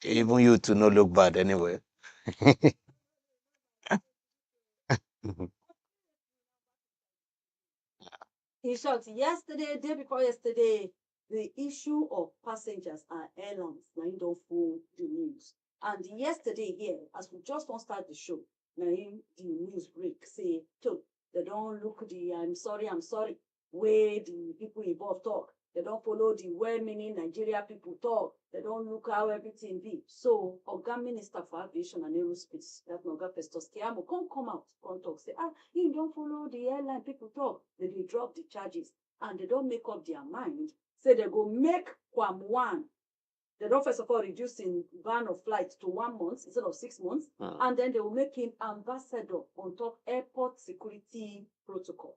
Even you too no look bad anyway. In short, yesterday, day before yesterday, the issue of passengers and airlines na im don full the news. And yesterday here, as we just wan start the show, na im the news break say, so they don look the I'm sorry, I'm sorry. wey di pipo involve tok, dem don follow di well-meaning Nigeria pipo tok, dem don look how everytin be. So, oga minister for aviation and aerospace, dat na oga Festus Keyamo come come out come tok say ah, im don follow di airline pipo tok, dem dey drop di charges and dem don make up dia mind say dem go make QAM one, dem don first of all reduce im ban of flight to one month instead of six months and den dem go make im ambassador on top airport security protocol.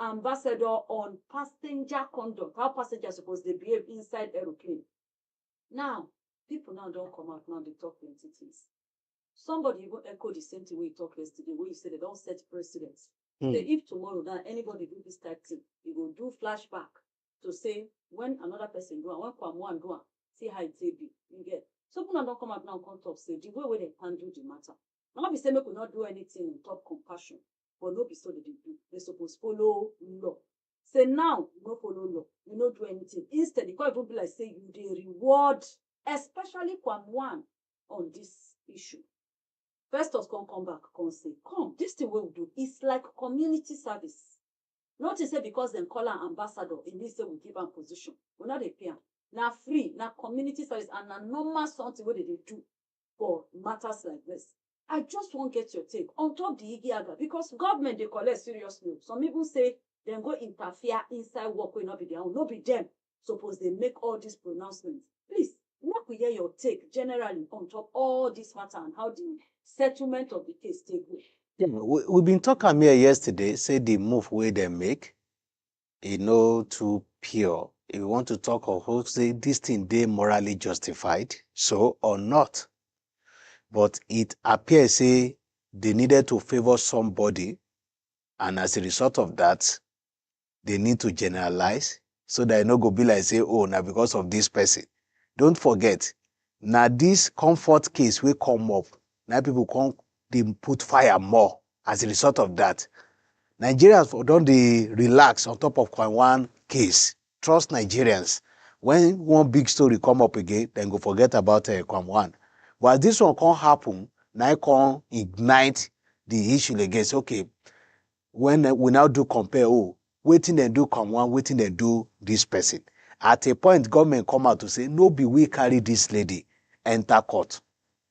Ambassador on passenger conduct, how passenger suppose dey behave inside aeroplane. Now, pipu now don come out now dey talk plenty things. Somebody even echo the same thing wey you talk yesterday wey you say dem don set precedent Hmm. say if tomorrow now anybody do this type thing, e go do flashback to say when another person do am, when Kwamoan do am, see how e take be. You get? So pipu now don come out now come talk say the way wey dem handle the matter, na no be say make we no do anything on top compassion, but no be so dem dey do they suppose follow law say now you no follow law you no do anything instead e come even be like say you dey reward especially kwam one on this issue festus come come back come say come this thing wey we do is like community service no think say because dem call am ambassador e mean say we give am position we no dey pay am na free na community service and na normal something wey dem dey do for matters like this. I just wan get your take on top the Igi Aga because government dey collect serious loan. Some even say dem go interfere inside work wey no be their own, no be dem suppose dey make all these pronouncements. Please, make we hear your take generally on top all this matter and how the settlement of the case take go. Yeah, we, we been talk am here yesterday, say the move wey dem make, e no too pure. If you want to talk of hope, say this thing dey morally justified, so or not. But it appears say they needed to favor somebody, and as a result of that, they need to generalize so that e no go be like say, oh, now because of this person. Don't forget, now this comfort case will come up. Now people come dey put fire more as a result of that. Nigerians for don dey relax on top of Coin One case. Trust Nigerians. When one big story come up again, dem go forget about uh, Coin One. But as this one come happen, now it come ignite the issue again. Say, okay, when uh, we now do compare, oh, waiting and do Coin One, waiting and do this person. At a point, government come out to say, no be we carry this lady enter court.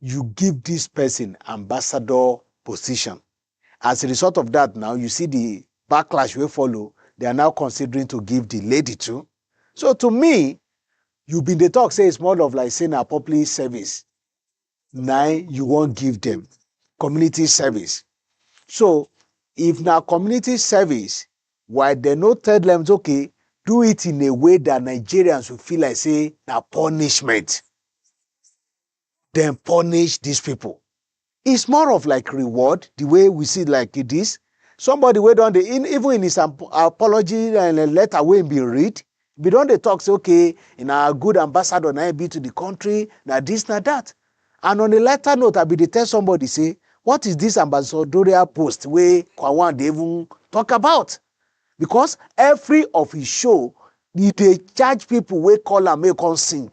you give dis pesin ambassador position. As a result of dat now, you see di backlash wey follow, they are now considering to give di lady too. So to me, you bin dey talk say it's more of like say na public service na you wan give dem, community service. So if na community service, why dem no tell dem say okay, do it in a way dat Nigerians will feel like say na punishment. dem punish dis people. It's more of like reward, the way we see like this. Somebody wey don dey in even in his ap- apology uh, letter wey him bin read, we don dey talk say okay, na good ambassador na him be to the country, na this na that. And on a lighter note, I bin dey tell somebody say, what is this ambassadorial post wey Kwawan dey even talk about? Because every of his show, he dey charge people wey call am make he come sing.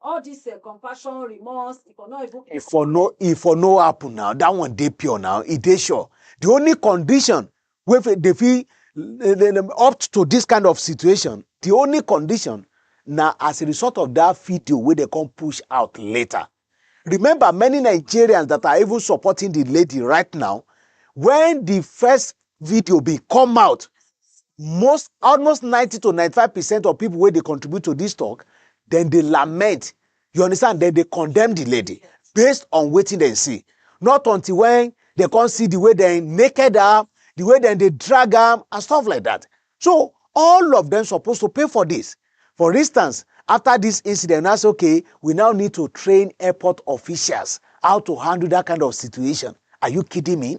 all this uh, compassion remorse e for no even. e for no e for no happen now that one dey pure now e dey sure the only condition wey dey fit up to this kind of situation the only condition na as a result of that video wey dey come push out later remember many nigerians that are even supporting the lady right now when the first video bin come out, most almost ninety to ninety five percent of pipo wey dey contribute to dis tok, dem dey lament, you understand, dem dey condemn di lady based on wetin dem see, not until wen dem kon see di way dem naked am, di way dem dey drag am and stuff like dat. So, all of dem suppose to pay for dis. For instance, after dis incident, now say okay, we now need to train airport officials how to handle dat kind of situation, are you kidding me?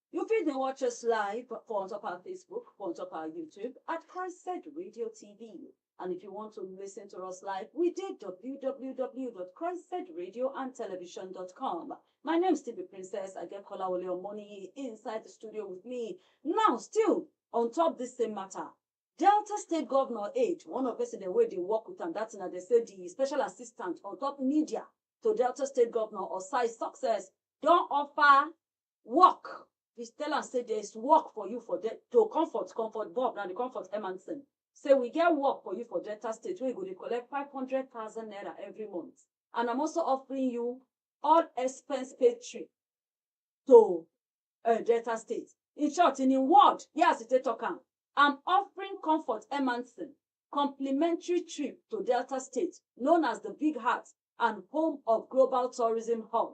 You fit dey watch us live for on top our Facebook, for on top our YouTube at Christ Said Radio TV. And if you want to listen to us live, we did www.christsaidradioandtelevision.com. My name still be Princess Adekola Oleomoni inside the studio with me. Now, still on top this same matter. Delta State Governor Aid, one of person the way they work with and that's they say the special assistant on top media to Delta State Governor Osai Success don't offer work we tell am say there is work for you for de- to comfort comfort bob na the comfort emanson say we get work for you for delta state wey you go dey collect five hundred thousand naira every month and i'm also offering you all expense paid trip to uh, delta state in short in im word here as e take talk am i'm offering comfort emanson complimentary trip to delta state known as the big heart and home of global tourism hub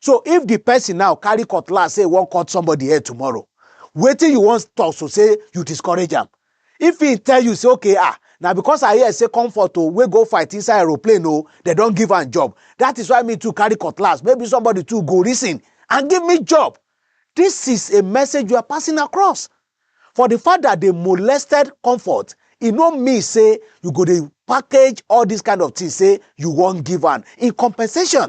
So if di pesin now carry cutlass say e wan cut somebody head tomorrow, wetin you wan talk so say you discourage am? If im tell you say okay ah na because I hear say Comfort o wey go fight inside aeroplane o dem don give am job that is why me too carry cutlass maybe somebody too go reason and give me job. This is a message you are passing across. For di fact that dey molested Comfort, e no mean say you go dey package all this kind of thing say you wan give am in compensation.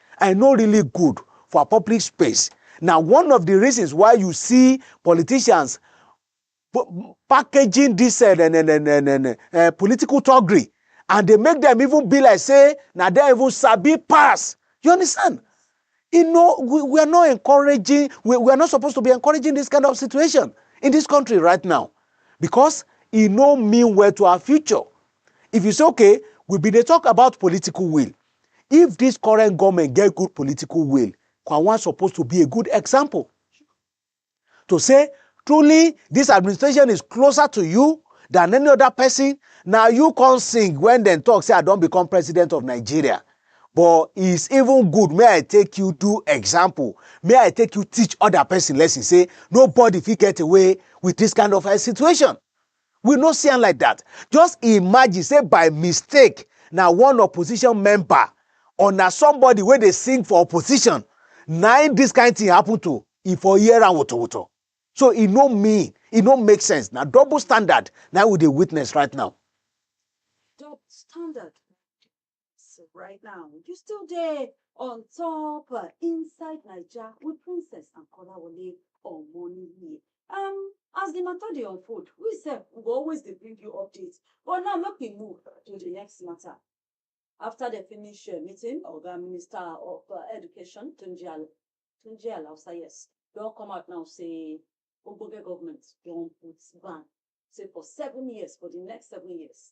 I no really good for public space. Na one of di reasons why you see politicians packaging dis eh, eh, eh, political thuggery and dey make dem even be like say na dem even sabi pass. You understand? You know, we, we are not encouraging, we, we are not supposed to be encouraging this kind of situation in this country right now because e no mean well to our future. If you say, okay, we be dey talk about political will, If dis current goment get good political will, Kwawang suppose to be a good example to say truly dis administration is closer to you than any oda pesin, na you come sing wen dem tok say I don become president of Nigeria but is even good make I take you do example, make I take you teach oda pesin lesson say nobody fit get away wit dis kind of situation. We no see am like dat. Just imagine say by mistake na one opposition member or na somebody wey dey sing for opposition na im dis kind thing happen to, e for hear am wotowoto. So e no mean, e no make sense. Na double standard na im we dey witness right now. Double standard? So right now, you still there on top uh, inside Nigeria with Princess and Kolawole on morning here. Um, as the matter dey unfold, we sef we go always dey bring you updates. But now make we move to the next matter. After the finish uh, meeting, Oga Minister of uh, Education, Tunji Al- Tunji Alausa, yes, don come out now say ogbonge government don put ban say for seven years, for the next seven years,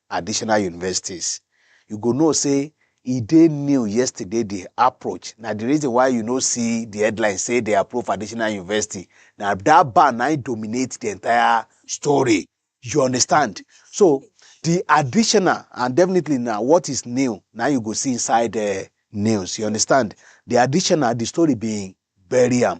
additional universities. You go know say e dey new yesterday di approach na di reason why you no see di headline say dey approve additional university na dat ban na im dominate di entire story you understand so di additional and definitely na what is new na you go see inside eh, news you understand di additional di story bin bury am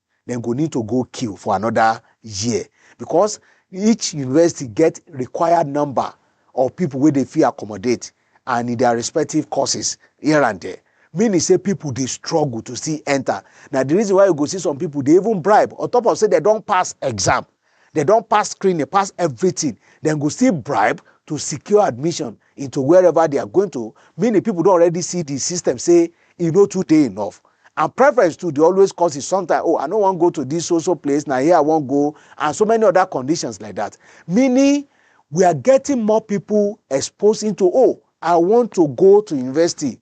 dem go need to go queue for anoda year bicos each university get required number of pipo wey dem fit accommodate and in dia respective courses here and there meaning say pipo dey struggle to still enta. Na di reason why you go see some pipo dey even bribe on top of say dem don pass exam Dem don pass screening, pass everything. Dem go still bribe to secure admission into wherever they are going to, meaning people don already see the system say e no too dey enough. And preference too dey always cause it sometimes, oh, I no wan go to this so so place, na here I wan go, and so many other conditions like that. Meaning we are getting more people exposed into, oh, I want to go to university,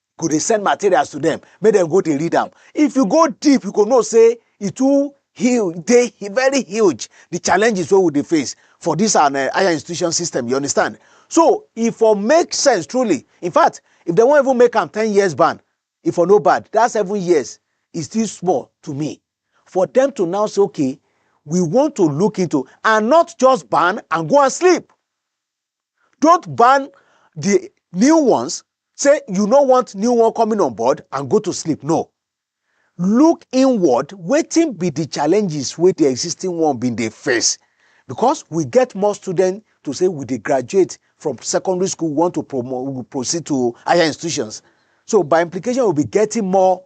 go dey send materials to them make them go dey read am if you go deep you go know say e too huge dey very huge the challenges wey we dey face for this our uh, higher institution system you understand so e for make sense truly in fact if they wan even make am ten years ban e for no bad that seven years is still small to me for them to now say okay we want to look into and not just ban and go and sleep Don't ban the new ones, say you no want new one coming on board and go to sleep, no. Look inward, wetin be the challenges wey the existing one been dey face? Because we get more students to say we dey graduate from secondary school, we want to promote, proceed to higher institutions. So by implication, we'll be getting more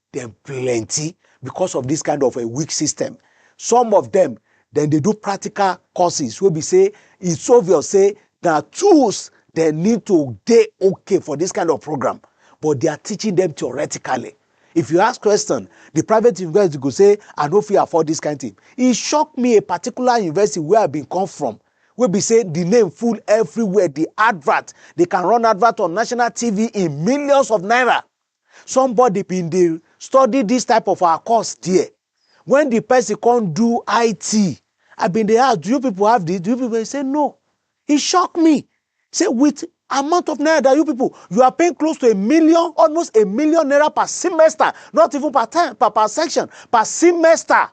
Dem plenty because of this kind of a weak system. Some of them dem dey do practical courses wey be say it's obvious say na tools dem need to dey okay for this kind of program but they are teaching them theoretically if you ask question the private university go say i no fit afford this kind thing e shock me a particular university where i been come from wey be say the name full everywhere the advert they can run advert on national tv in millions of naira somebody bin dey study this type of our course there when the person come do IT I bin dey ask do you people have this do you people he say no he shock me say with amount of naira that you people you are paying close to a million almost a million naira per semester not even per time per, per section per semester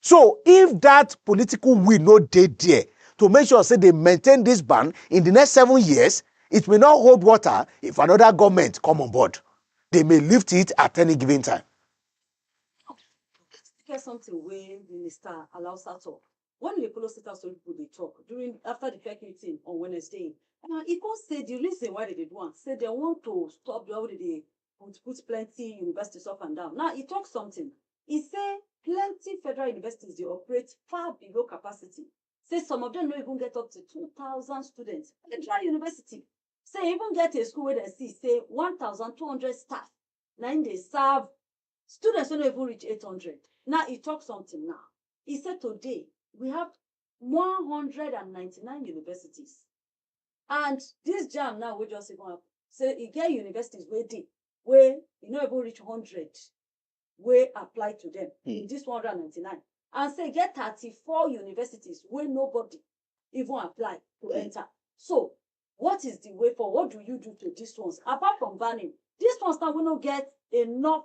So if dat political will no dey dia to make sure say dem maintain dis ban in di next seven years, it may not hold water if anoda goment come on board. Dem may lift it at any given time. E get sometin wey Minister Alausa tok wen e dey follow state house tori pipo dey tok during afta di PEC meeting on Wednesday. E come say di reason why dem dey do am say dem want to stop di one wey dem dey but put plenty universities up and down. Now, e talk something. E say plenty federal universities dey operate far below capacity. Say some of them no even get up to 2,000 students. Federal university say e even get a school wey dem see say 1,200 staff na im dey serve students wey no even reach 800. Now, e talk something now. E say today, we have 199 universities. And dis jamb now wey just even happen, sey e get universities wey dey wey e no even reach hundred wey apply to dem in dis one hundred and ninety-nine. And sey e get thirty-four universities wey nobody even apply to enter. So, what is the way forward? What do you do to dis ones? Apart from banning, dis ones now wey no get enough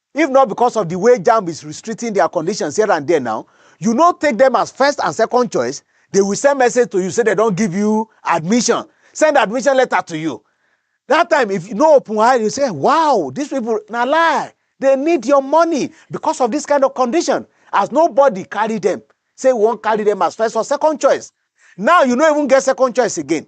If not because of the way Jamb is restricting their conditions here and there now, you no take them as first and second choice, they will send message to you say they don give you admission, send admission letter to you. That time, if you no open eye, you say, wow, these people, na lie. They need your money because of this kind of condition. As nobody carry them, say we won't carry them as first or second choice. Now you no even get second choice again.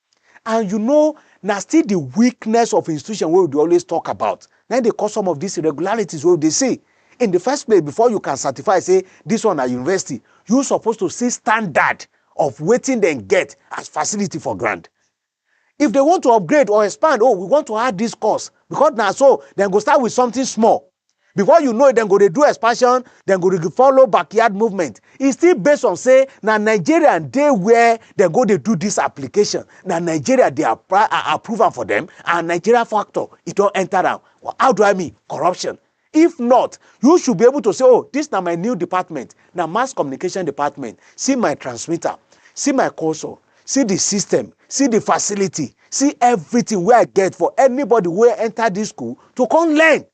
And you know, na still the weakness of institution wey we dey always talk about na im dey cause some of these irregularities wey we dey see. In the first place, before you can certify say this one na university, you suppose to see standard of wetin dem get as facility for ground. If dem want to upgrade or expand, oh, we want to add this course because na so dem go start with something small. before you know it dem go dey do expansion dem go dey follow backyard movement e still based on say na nigeria dey where dem go dey do this application na nigeria dey apply uh, approve am for them and nigeria factor e don enter am how do i mean corruption if not you should be able to say oh this na my new department na mass communication department see my transmitter see my console see the system see the facility see everything wey i get for anybody wey enter this school to come learn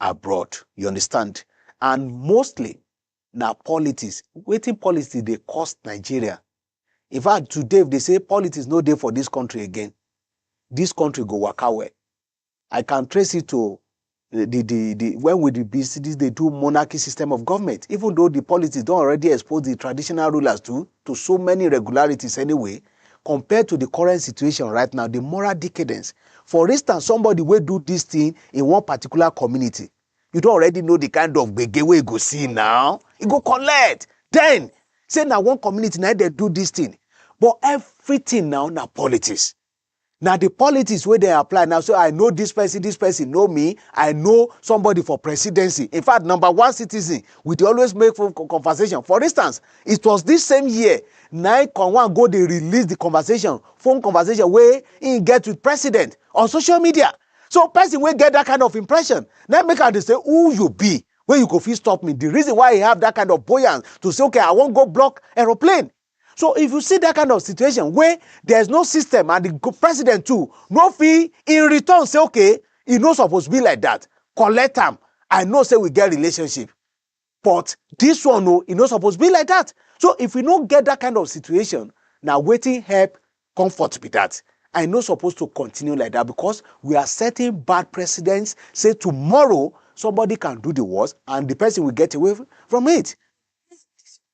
abroad you understand and mostly na politics wetin politics dey cost nigeria in fact today if they say politics no dey for this country again this country go waka well i can trace it to the the the when we the business they do monarchy system of government even though the politics don already expose the traditional rulers to to so many irregularities anyway Compared to di current situation right now, di moral decadence, for instance somebody wey do dis thing in one particular community, you don already know di kind of gbege wey e go see now, e go collect, then say na one community na im dem do dis thing, but everything now na politics, na the politics wey dem apply now so i know this person this person know me i know somebody for presidency in fact number one citizen we dey always make phone co- conversation for instance it was this same year nine conwan go dey release the conversation phone conversation wey he get with president on social media so person wey get that kind of impression na make am dey say who you be wey you go fit stop me the reason why he have that kind of buoyance to say okay i wan go block aeroplane So if you see that kind of situation where there's no system and the president too no fee in return say okay, e no suppose be like that. Collect them. I know say we get relationship. But this one no, e no suppose be like that. So if we no get that kind of situation, now waiting help comfort be that. I no supposed to continue like that because we are setting bad precedents. Say tomorrow somebody can do the worst and the person will get away from it.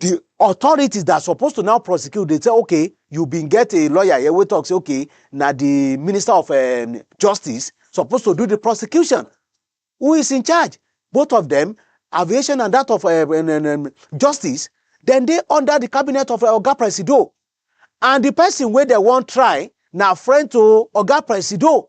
the authorities that suppose to now prosecute dey say okay you bin get a lawyer here wey talk say okay na the minister of um, justice suppose to do the prosecution who is in charge both of them aviation and that of uh, um, um, um justice then they under the cabinet of uh, oga presido and the person where they won't try now friend to oga presido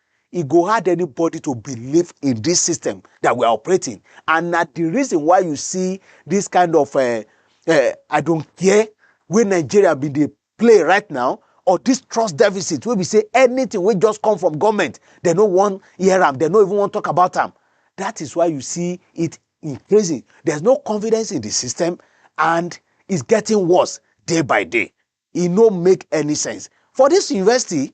E go hard anybody to believe in this system that we are operating and na the reason why you see this kind of uh, uh, I don't care wey Nigeria be the play right now or this trust deficit wey be say anything wey just come from government they no wan hear am they no even wan talk about am that is why you see it increasing there's no confidence in the system and it's getting worse day by day e no make any sense for this university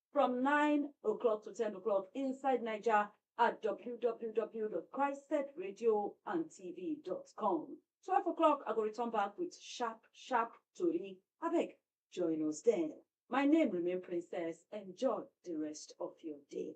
from 9 o'clock to 10 o'clock inside Niger at www.christedradioandtv.com. 12 o'clock, I go return back with sharp, sharp Tori. Abeg, join us then. My name remain Princess. Enjoy the rest of your day.